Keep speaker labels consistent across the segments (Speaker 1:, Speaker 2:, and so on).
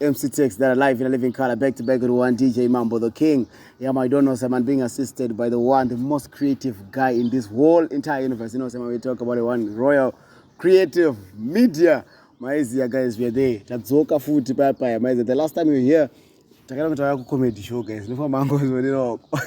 Speaker 1: MC Tex that are live in a living color, back to back with one DJ Mambo the King. Yeah, my don't know some man being assisted by the one, the most creative guy in this whole entire universe. You know, some we talk about the one royal creative media. Maiziya guys, we are there. Tadzoka futi paya paya. Maiziya, the last time we were here, takada kuti tauya kucomedy show guys. Nofamba hangu zvoneroko.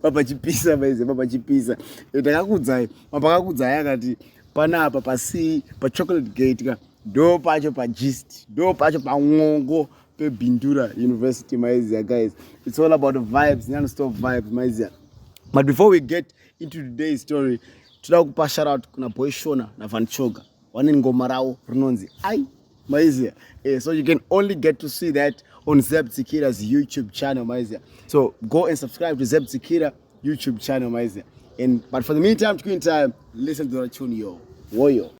Speaker 1: Papa chipisa maiziya, papa chipisa. Takakudzai, mapakakudzai akati panapa pasi pa chocolate gate ka. ndo pacho pagist ndo pacho pan'ongo pebindura university maizia guys it's all about vibes nonstop vibes maizia but before we get into today's story toda kupa sharout kuna boy shona navanchoga vane ngoma ravo rinonzi ai maizia eh, so you can only get to see that on zeb tsikira's youtube channel maizia so go and subscribe to zeb tsikira youtube channel maizia and but for the meantime between time listen to the tune yo woyo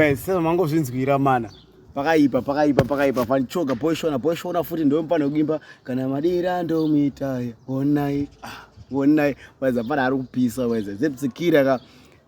Speaker 1: guys sasa mangozvinzwira mana pakaipa pakaipa pakaipa fanichoga poishona poishona futi ndomupana kugimba kana madira ndomuitaya onai ah, onai waiza pana ari kupisa waiza zepsikira ka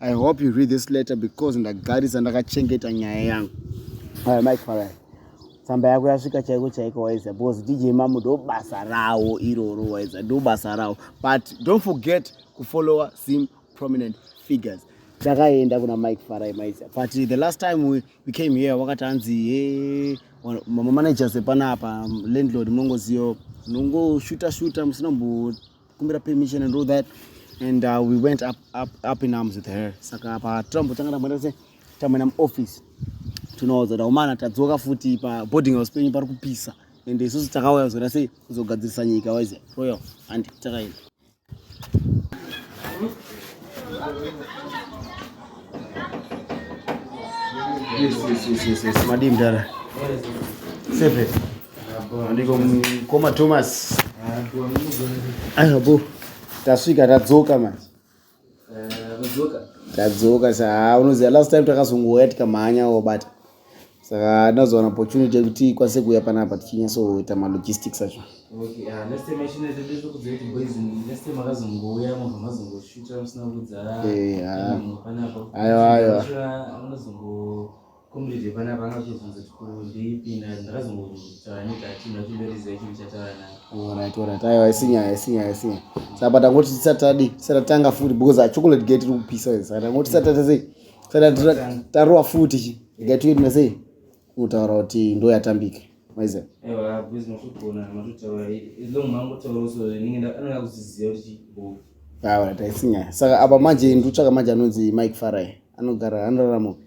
Speaker 1: I hope you read this letter because ndagarisa ndakachengeta nyaya yangu. Aya Mike Farai. Tsamba yako yasvika chaiko chaiko waiza because DJ Mamu ndo basa rawo iroro waiza ndo basa rawo but don't forget ku follower sim prominent figures. Takaenda kuna Mike Farai maiza but the last time we, we came here wakati anzi hey, eh, mama managers epanapa landlord mongoziyo nongoshuta shuta musina mbo kumbira permission and all that and uh, we went up, up, up in arms with her saka patrump tanga tamboita se tamboenda muoffice tinoudza kuti aumana tadzoka futi paboarding house penyu pari kupisa and isusu takauya kuzoita sei kuzogadzirisa nyika wise royal and takaenda Yes, yes, yes, yes, yes. Madii mdara. Sefe. Andiko mkoma Thomas. Ayo bo. Tasvika tadzoka manje. Eh, tadzoka. Tadzoka sa. Unoziva last time takazongouya tikamhanya wabata. saka ndazowana opportunity yekuti ikwanise kuuya panapa tichinyatsoita malogistics acho
Speaker 2: aiwa isinyaya
Speaker 1: isinyaya isinyaya saka patangoti tisati tadi tisati tatanga futi because achocolate gate iri kupisa saka tangoti tisati tatazei tarowa futi chi ikatiwe tinasei unotaura kuti ndo yatambika
Speaker 2: maiza awa taisinyaya
Speaker 1: saka apa manje nditsvaka manje anonzi mike farai anogara anorarama upi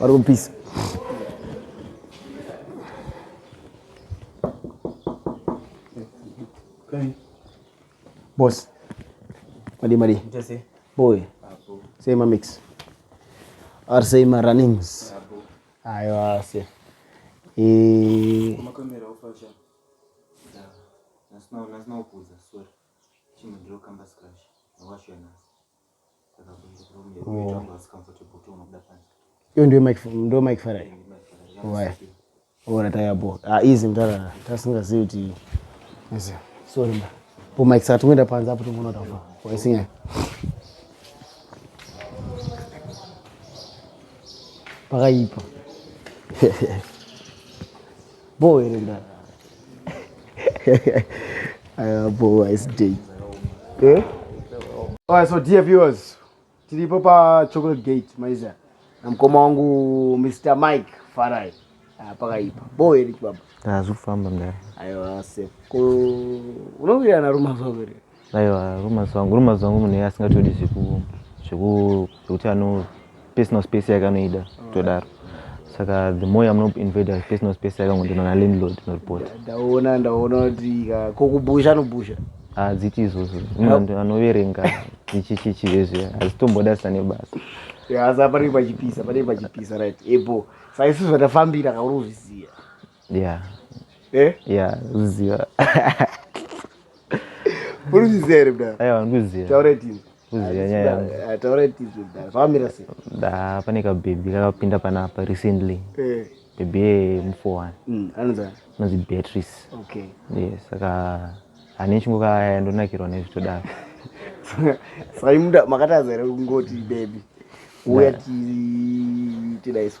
Speaker 1: vari kupisa boss madi madi boy sei mamix or sei marunnings aiwa se
Speaker 3: iyo
Speaker 1: ndiyo mike ndo mike farai waya ora tayabo ah easy mtara tasingazivi kuti easy sorry mba po mike sati ngoenda panze apo tingoona tafa waisinyaya pakaipa Boo here mdara? Aya boo ice day. Eh? Alright, so dear viewers, tiripo pa Chocolate Gate maiza na mkoma wangu Mr Mike Farai ah, pakaipa bo here chibaba? Hazvifamba mdara.
Speaker 4: Aiwa safe.
Speaker 1: Ko unowirirana rumazuva here? aiwa rumors
Speaker 4: wangu rumors wangu munhu iye asingatodi zveku zveku zvekuti ano personal space yake anoida kutodaro saka the more yamunoinvada personal space yake ngondona nalandlord noripota ndaona ndaona
Speaker 1: kuti ka- ko kubusha anobusha hadziti izvozvo
Speaker 4: munhu anoverenga chichichichi vezve hazitomboda sane basa Yes, apa panenge
Speaker 1: pachipisa panenge pachipisa right ebo saka isusu zvatafambira kauri kuzviziva
Speaker 4: yeah eh yeah ziva
Speaker 1: Uri kuziva here mdara? Aiwa ndikuziva. Taura
Speaker 4: tizvo. Kuziva
Speaker 1: nyaya yangu.
Speaker 4: Ah, taura tizvo mdara.
Speaker 1: Pamira sei? Da pane ka
Speaker 4: baby kakapinda panapa recently. Eh. Baby ye mufowani. Mm, anonzi anonzi
Speaker 1: Beatrice.
Speaker 4: Okay. Yes,
Speaker 1: saka
Speaker 4: ane chingu kaya ndonakirwa nezvitodaro.
Speaker 1: Saka imuda makatadza here kungoti baby. Uya ti tidaiso.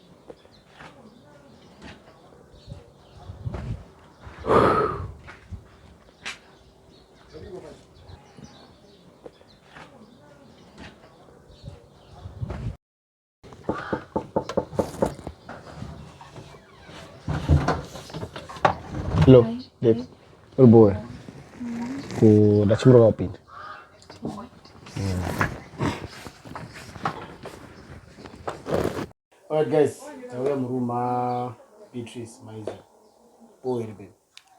Speaker 1: Hello. Yes. Uri boe. Ku ndachimura wapinda. Alright guys, tauya muroom ah, Beatrice maiza. Boy iri baby.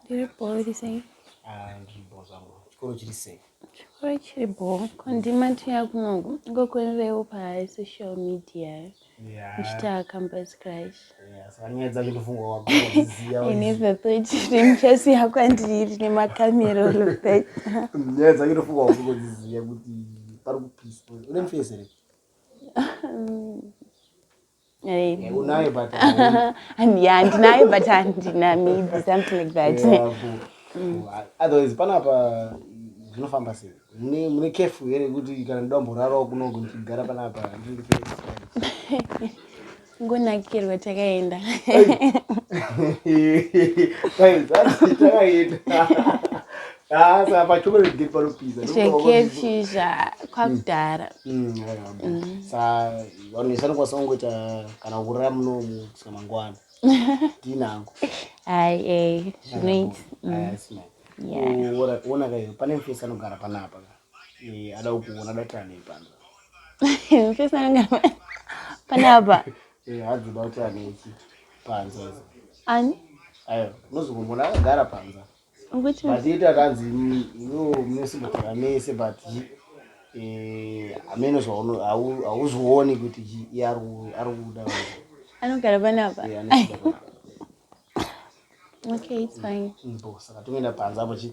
Speaker 1: Ndiri boy iri
Speaker 5: sei? Ah, ndiri boy
Speaker 1: zvangu. Chikoro chiri sei? Chikoro chiri
Speaker 5: boy. Kondimati yakunongo ngokuenderewo pa social media. Eh?
Speaker 1: ndichasiya
Speaker 5: kwandiri nemakamera nyaya dzake
Speaker 1: ndofunga wakutodziziva kuti pari kupiswa une mufesi here unaye but handinaye
Speaker 5: but handina maybe something like that otherwise
Speaker 1: panapa zvinofamba sei Mune mune careful here kuti kana ndoda kumborarawo kunoku ndichigara panapa
Speaker 5: ngonakirwa takaenda
Speaker 1: ah, chekefisha
Speaker 5: kwakudhara mm, mm, mm.
Speaker 1: sa vanhu isani kwasangoita kana kurara munomu kusvika mangwana ndinangu ai ei
Speaker 5: zvinoita
Speaker 1: ona kaio pane mfesi anogara panapa ada kukuona ada kuti anei pano mfesi
Speaker 5: anogara panapa hadzi da
Speaker 1: kuti anei panza ani
Speaker 5: ayo
Speaker 1: unozokumbona akagara panza Mazita
Speaker 5: akanzi
Speaker 1: iwewo munosimukira mese but eh, ameno hauzvioni kuti iye ari kuda
Speaker 5: anogara panapa okay it's fine saka toenda
Speaker 1: panze apo chi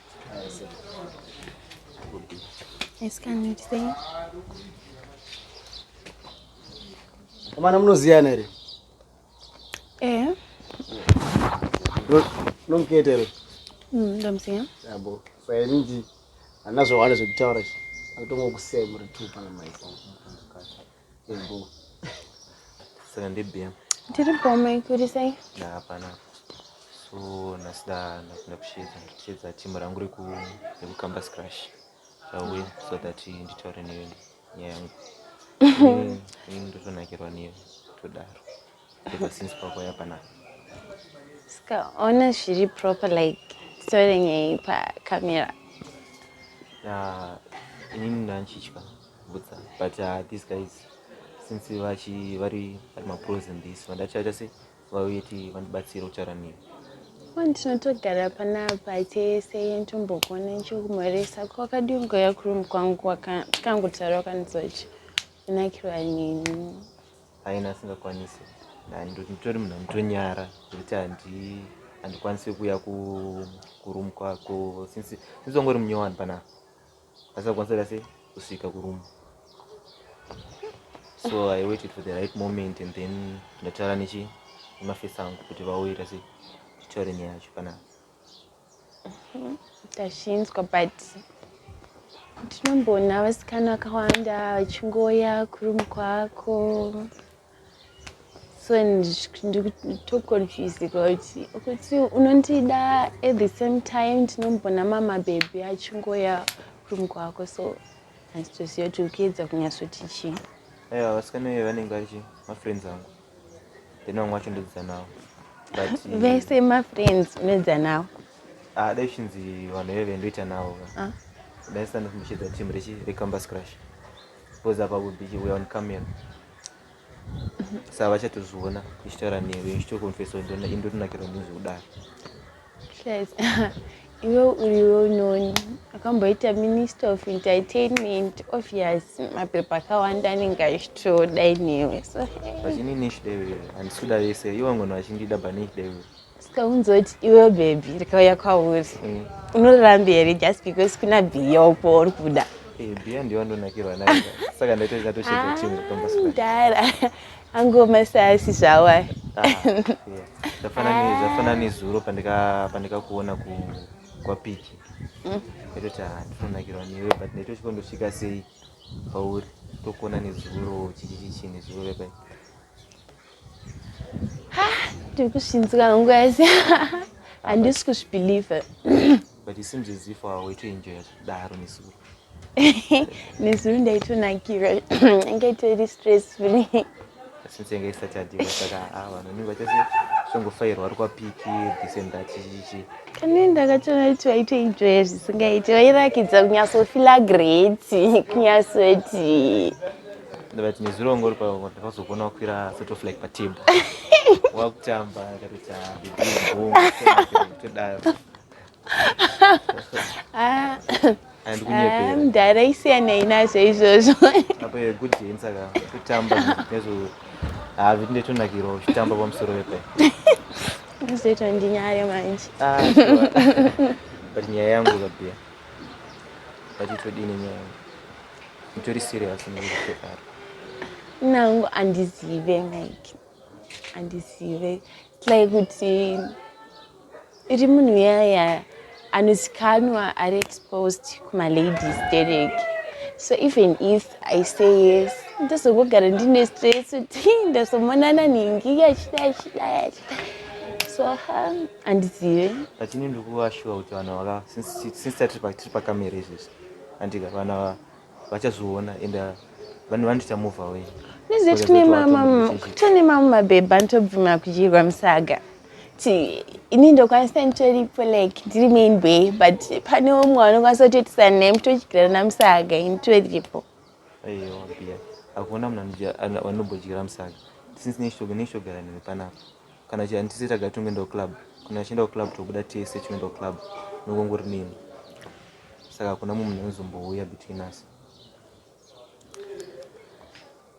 Speaker 1: Amana munoziyana here? Eh. Nomukete here? Mm, ndomuziya.
Speaker 5: Yabo.
Speaker 1: Saka inji anazvo hwana zvekutaura izvi. Akutongokusema uri two pana mai.
Speaker 4: Saka ndebm. Tiri bom
Speaker 5: ikuri sei? Na hapana.
Speaker 4: So nasida napinda kushedza ndichedza timu rangu reku reku campus crash. Rawe so that nditaure newe nyaya yangu. Ini ndotonakirwa newe todaro. ever since pakwaya panapa
Speaker 5: sikaona zviri proper like story nyei pacamera ah,
Speaker 4: inini ndanchitya butsa but uh, these guys since vachi vari vari mapros in this vandachaita se vauye ti vandibatsire kutaura nini ndinotogara
Speaker 5: panapa tese ntombokuona nchikumhoresa ko wakadii ungoya kurum kwangu tikangotaura wakandizochi unakirwa nini Haina
Speaker 4: asingakwanise nditori munhu anotonyara zvekuti handikwanise kuuya kuroom kwako since wangori munyowani panapa asingakwanise kuita sei kusvika kuroom so i waited for the right moment and then ndataura nechi nemafesi angu kuti vauita sei titaure nyaya yacho panapa
Speaker 5: tazvinzwa but tinomboona vasikana vakawanda vachingoya kurum kwako so nditoconfusika kuti kuti unondida at the same time tinomboona mamabhebhi achingoya kurum kwako so handitoziva kuti ukuedza kunyatsoti chii aiwa vasikana
Speaker 4: ive vanenge vachi mafriends angu then vamwe vacho ndodzidza navo but vese
Speaker 5: mafriends unodzidza navo ah, dai
Speaker 4: chinzi vanhu veve ndoita navo ah. dai sanda kumbishedza team rechi recampus crash because apa would be we on camera mhm. sa vachatozviona ichitaura newe ichitokonfesa kuti indotonakirwa ndizvo kudaro Guys,
Speaker 5: iwe uri well known akamboita minister of entertainment obvious mapepa akawanda anenge achitoda inewe so vachini nish devil
Speaker 4: handisi kuda vese ivo vangona vachindida banish devil sikaunzoti
Speaker 5: iwe bhebhi rikauya kwauri mm. unorambi here just because kuna bhiya upo uri kuda eh, bhiya ndiyo
Speaker 4: andonakirwa nayo saka ndaita zvinatoshedza chimwe tombasudara
Speaker 5: Angu masasi zvawo aya. Ah, yeah. Zvafana ne
Speaker 4: zvafana nezuro pandika pandika kuona ku kwa piki. Mm. Ndototi ah ndinonakirwa newe but ndotosvika ndosvika sei pauri tokuona nezuro chichichi nezuro pai. Ha,
Speaker 5: tiri kushinzika hangu guys. Handisi kuzvibelieve. but it
Speaker 4: seems as if uh, waitoenjoya zvekudaro nezuro
Speaker 5: nezuro ndaitonakira inge itori stressful since yanga
Speaker 4: isati yadiwa saka ah, vanhu nini vachase zvongofairwa ari kwapiki this and that chichichi kanini ndakatoona
Speaker 5: kuti waitoenjoya zvisingaiti wairakidza kunyatsofila great kunyatsoti
Speaker 4: but nezuro wanga uri pavakazokuona wakwira sort of like patable wakutamba akatoita ah, bibitodaro Ah,
Speaker 5: ah, mdhara isiyanei nazvo izvozvo apo good
Speaker 4: thing saka kutamba nezvo hazviti ndetonakirwa uchitamba pamusoro vepe zvoitwa
Speaker 5: ndinyaya manje ah,
Speaker 4: but nyaya yangu kabia but itodini nyaya yangu itori serious nekutekara
Speaker 5: nangu andizive like andizive like kuti iri munhu yaya anozikanwa ari exposed kumaladies dereke so even if i say yes ndozongogara ndine stress kuti ndazomonana ningi yachida yachida yachida so ha handizive but ini
Speaker 4: ndikuvashuwa kuti vanhu vaka since tiri pakamera izvezvi andika vanhu vachazoona and uh, vanhu vani tichamove away nezveti kune
Speaker 5: mama tone mama mabhebha anotobvuma kudyirwa musaga kuti ini ndokwanisa nditoripo like ndiri main bay but pane umwe wanokwanisa kutoitisa naye mutodyira namusaga ini toripo
Speaker 4: akuona munhu anobodyira musaga since neshogara nini panapa kana chii handisi taga tingoendawo club kana achiendawo club tobuda tese chinoendawo club nokongori nini saka hakuna mumwe munhu anozombouya between us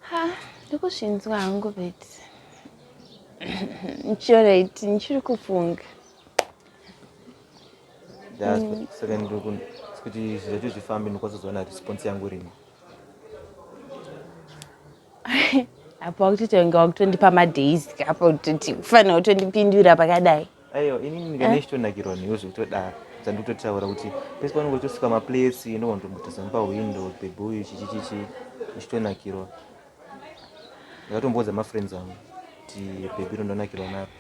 Speaker 5: ha ndikuzvinzwa hangu but nchiorite ndichiri kufunga
Speaker 4: mm. saka ndikuti zvizacho zvifambe ndikwazozoona response yangu rimwe
Speaker 5: apa wakutotonga wakutondipa madays apa utoti ufanira kutondipindura pakadai aiwa ini ndinenge
Speaker 4: ndichitonakirwa newe zvekutodaro dzandikutotaura kuti pese paunenge uchitosuka maplates inogona kutombotaza nepawindow bebe uyu chichichichi uchitonakirwa ndakatomboudza mafriends angu kuti bebe rondonakirwa naro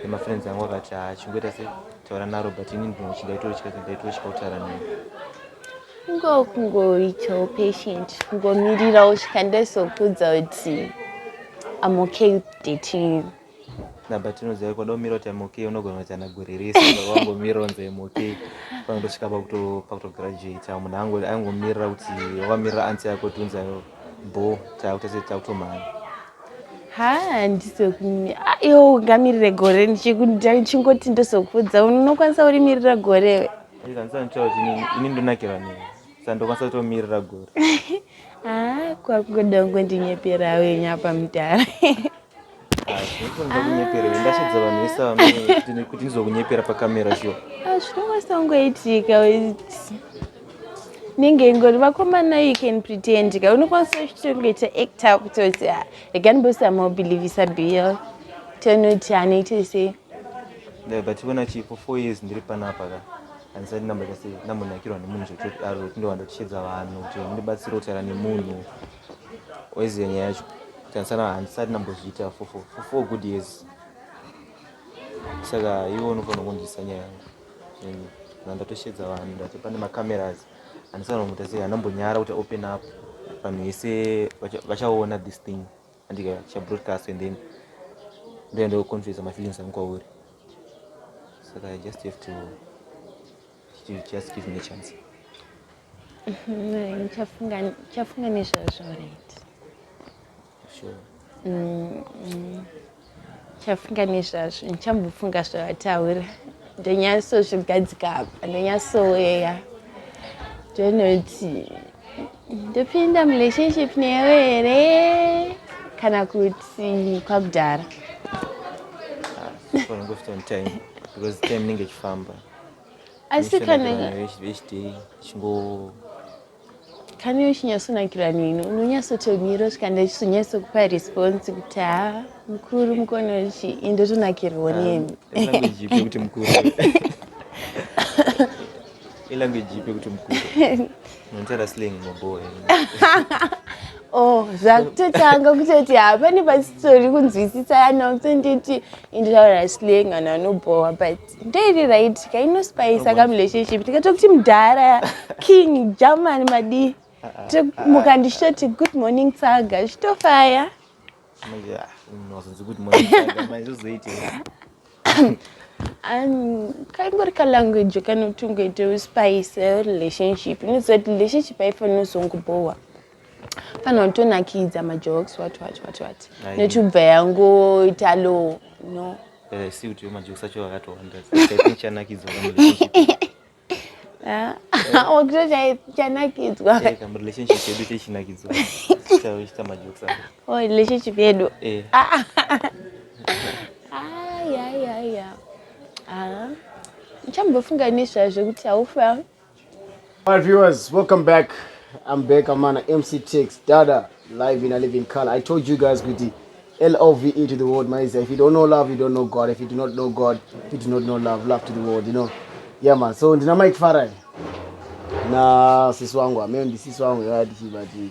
Speaker 4: nemafriends angu akati haa chingoita se taura narobert ini ndinochida itotya ndaitotya kutaura naye kungo
Speaker 5: kungoitawo patient kungomirira usvika ndezokudza kuti am okay with dating you naba tinoziva
Speaker 4: kwada umira kuti am okay unogona kuti ana guririsa wangomira unzi am okay panotosvika pakutograduata munhu angu aingomirira kuti wamirira ansi yako tiunzayo bo takutotomhanya haa
Speaker 5: ndizokunyimi ah, iwo ungamirire gore ndichingoti ndozokudza unokwanisa urimirira gore we
Speaker 4: ini ndonakirwa nei sandokwanisa kutomirira gore ah, kwakungoda
Speaker 5: kungondinyepera uyo nyapa mudhara
Speaker 4: ndasvadza vanhu vese vamkuti ndizokunyepera pakamera shuwa ah, zvinokwanisa
Speaker 5: kungoitika nenge ingori vakomana you can pretend ka unokwanisa uchitoita acta kutoti ah, rega ndibosamaubelievisa bill tonoti anoite sei yeah, but
Speaker 4: iona chii for four years ndiri panapa ka andisati ndamboita sei ndambonakirwa nemunhu zvekutodaro kuti ndowanda tichedza vanhu kuti ndibatsire kutaura nemunhu oizive nyaya yacho kuti andisana handisati ndambozviita for four good years saka iwe unofanira kundisa nyaya yangu Vanhu ndatosheedza vanhu ndati pane macameras andisaona kuti asi anambonyara kuti open up vanhu vese vachaona this thing andika chabroadcast and then ndoenda kuconfesa mafeelings angu kwauri saka i just have to, to just give me a chance
Speaker 5: chafunga nezvazvo right sure.
Speaker 4: mm, mm.
Speaker 5: chafunga nezvazvo ndichambofunga zvavataura ndonyatsozvigadzika apa ndonyatsoweya ndonoti ndopinda murelationship newe here kana kuti kwakudhara
Speaker 4: because time inenge ichifamba asi
Speaker 5: kana vechidei
Speaker 4: chingo
Speaker 5: Kani uchinyatsonakirwa neni unonyatsotomira usvika ndachizonyatsokupa response kuti ha mukuru mukona uchi indotonakirwa nemi ilanguage ipi kuti
Speaker 4: mukuru nonzara slang maboe oh
Speaker 5: zvakutotanga kutoti hapane pasitori kunzwisisa yana kutonditi inditaura slang anhu anobhowa but ndeiri right ka inospayisa ka relationship tikatira kuti mudhara king german madii tomuka ndichitoti good morning tsaga zvichitofaya kangori kalanguage kanotungoita uspayise relationship inoziva kuti relationship haifanira uzongobhowa panotonakidza majokes what what what what nechubva yangoita low no eh, si kuti
Speaker 4: majokes acho akatowanda chanakidzwa
Speaker 5: wakutocanakidzwa relationship yedu
Speaker 4: techinakidzwa chiita majokes oh relationship yedu
Speaker 5: eh. ayayaya ah, ah, ah. chambofunga nezvazvo kuti haufa Alright
Speaker 1: viewers, welcome back. I'm back. I'm on MC Tix Dada live in a living color. I told you guys with the L O V E to the world, my If you don't know love, you don't know God. If you do not know God, you do not know love. Love to the world, you know. Yeah man. So ndina Mike Farai. Na sisi wangu, ameo ndi sisi wangu yati chibati.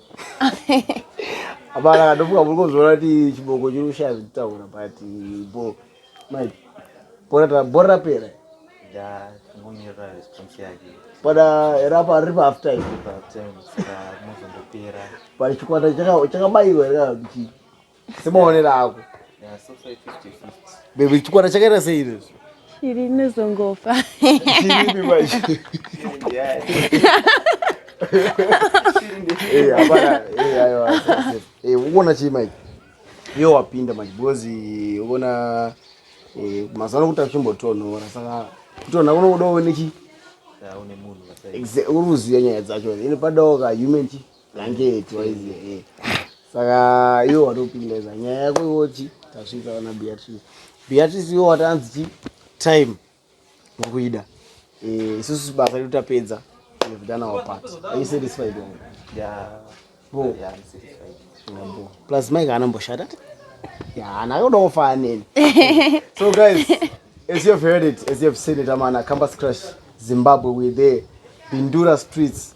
Speaker 1: Hapana katofuka muri kuzoona kuti chiboko chiri kushaya zvekutaura but bo manje bora ta bora rapera. Ya
Speaker 4: ngomira response yake. Pada rapa
Speaker 1: riri pa half time. Pa half time saka
Speaker 4: mozondopera. Pari chikwata
Speaker 1: chaka chakabairwa rika kuti semaonero ako
Speaker 4: bebi
Speaker 1: chikwana chakaita sei izvezvi shiri
Speaker 5: inozongofa
Speaker 1: ukuona chii mike iyo wapinda manje because eh, ukuona eh, mazuva anokuti achimbotonhora saka kutonha kunokudawo nechi
Speaker 4: uri kuziva nyaya dzacho
Speaker 1: ine padawo ka human chi blanketi waiziva e eh. saka iwe watopinda za nyaya yako iwochi tasvika vana beatrice beatrice iwe watanzi chi time ukuida eh, isusu basa redu tapedza we've done our part are you satisfied wonga yeah.
Speaker 4: bo
Speaker 1: yeah,
Speaker 4: I'm satisfied bo plus
Speaker 1: mike anomboshata yeah, nayodawo faa neni so guys as you've heard it as you've seen it amana campus crush zimbabwe we're there bindura streets